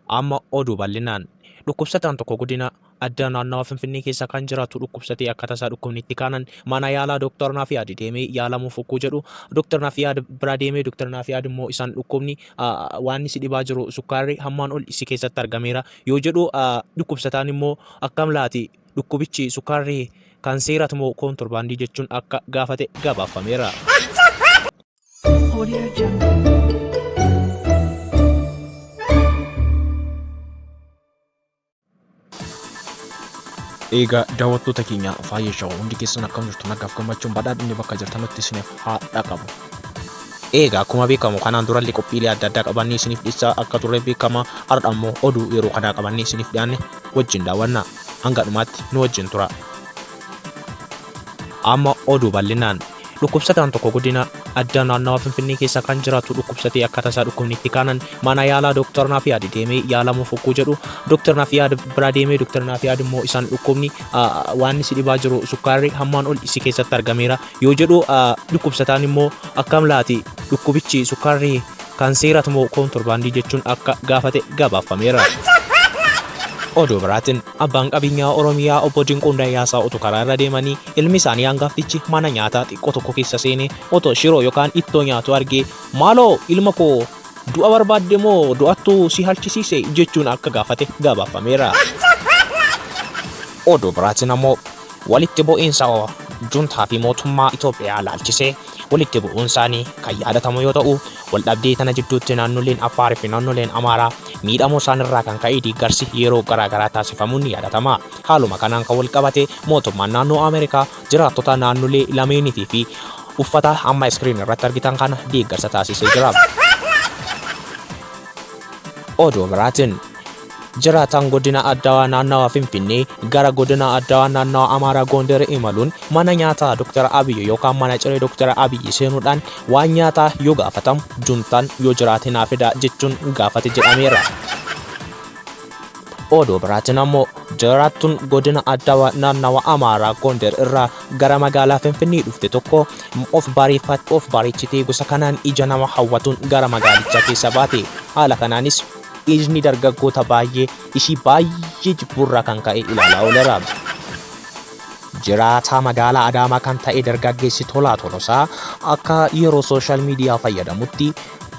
Amma oduu bal'inaan. Dhukkubsataan tokko godina addaa naannawa Finfinnee keessa kan jiraatu dhukkubsatee akka tasaa dhukkubni itti kaanan mana yaalaa Dr. Nafiyaad deemee yaalamuuf ogguu jedhu Dr. Nafiyaad bira deemee Dr. Nafiyaad immoo isaan dhukkubni waan si dhibaa jiru sukkaarri hammaan ol si keessatti argameera yoo jedhu dhukkubsataan immoo akkam laati dhukkubichi sukkaarri kan seerat moo koontorbaandii jechuun akka gaafate gabaafameera. Eegaa daawwattoota keenya faayya shawaa hundi keessan akkam jirtu nagaaf gammachuun badhaadhinni bakka jirtanutti isiniif haa dhaqabu. Eegaa akkuma beekamu kanaan durallee qophiilee adda addaa qabannee isiniif dhiyeessaa akka turre beekama har'a ammoo oduu yeroo kanaa qabannee isiniif dhiyaanne wajjin daawwanna hanga dhumaatti nu wajjin tura. Amma oduu bal'inaan. Dhukkubsataan tokko godina addaa naannawa Finfinnee keessa kan jiraatu dhukkubsatee akka tasaa dhukkubni itti kaanan mana yaalaa Dooktar Naafiyaad deemee yaalamuuf hogguu jedhu Dooktar Naafiyaad bira deemee Dooktar Naafiyaad immoo isaan dhukkubni waan si dhibaa jiru sukkaarri hammaan ol si keessatti argameera yoo jedhu dhukkubsataan immoo akkam laati dhukkubichi sukkaarri kan seerat moo koontorbaandii jechuun akka gaafate gabaafameera. Oduu biraatiin Abbaan qabeenyaa Oromiyaa Obbo Dinquun Dayyaasaa utuu karaa irra deemanii ilmi isaanii hangaftichi mana nyaataa xiqqoo tokko keessa seenee otoo shiroo yookaan ittoo nyaatuu argee maaloo ilma koo du'a barbaadde moo du'attu si halchisiise jechuun akka gaafate gabaafameera. Oduu biraatiin ammoo walitti bu'iinsa Juntaa fi mootummaa Itoophiyaa ilaalchisee walitti bu'uun isaanii kan yaadatamu yoo ta'u, Waldhabdee tana jidduutti naannoleen Affaar fi naannoleen Amaaraa miidhamuu isaanirraa kan ka'e deeggarsi yeroo garaagaraa taasifamuun ni yaadatama. Haaluma kanaan kan walqabate mootummaan naannoo Ameerikaa jiraattota naannolee lameeniitii fi uffata amma iskiriin irratti argitan kana deeggarsa taasisee jira. Oduu biraatiin Jiraataan godina Addawaa naannawa Finfinnee gara godina Addawaa naannawa Amaaraa Goondar imaluun mana nyaataa Dr. Abiyyi yookaan mana ciree Dr. Abiyyi seenuudhaan waan nyaataa yoo gaafatamu juntaan yoo jiraate naa fidaa jechuun gaafate jedhameera. Oduu biraatiin ammoo jiraattuun godina Addawaa naannawa Amaaraa Goondar irraa gara magaalaa Finfinnee dhufte tokko of bareeffatte of bareechitee gosa kanaan ija nama hawwatuun gara magaalichaa keessa baate. Haala kanaanis Dhiirni dargaggoota baay'ee ishii baay'ee jibbuurraa kan ka'e ilaalaa ooleera. Jiraataa magaalaa Adaamaa kan ta'e dargaggeessi Tolaa Tolosaa akka yeroo sooshaal miidiyaa fayyadamutti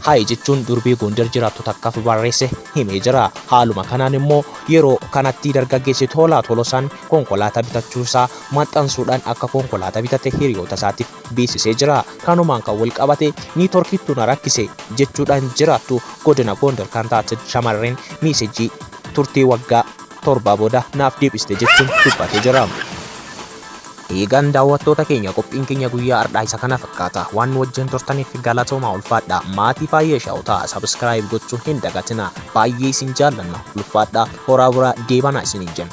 Hayi jechuun durbee Gondar jiraattu takkaaf barreesse himee jira. Haaluma kanaan immoo yeroo kanatti dargaggeessi Tolaa Tolosaan konkolaataa bitachuusaa maxxansuudhaan akka konkolaataa bitate hiriyoota isaatiif beeksisee jira. Kanumaan kan wal qabate niitoorkiitu na rakkise jechuudhaan jiraattu godina Gondar kan taate shamarreen miisejii turtii waggaa torbaa booda naaf deebiste jechuun dubbatee jira. Eegaan daawwattoota keenya qophiin keenya guyyaa har'aa isa kana fakkaata. Waan nu wajjin turtaniif galatoomaa ulfaadha. Maatii Faayee Shaaw ta'a. Sabiskiraayib gochuu hin dagatina. Baay'ee isin jaallanna. Ulfaadha. Horaa buraa deebanaa isiniin jenna.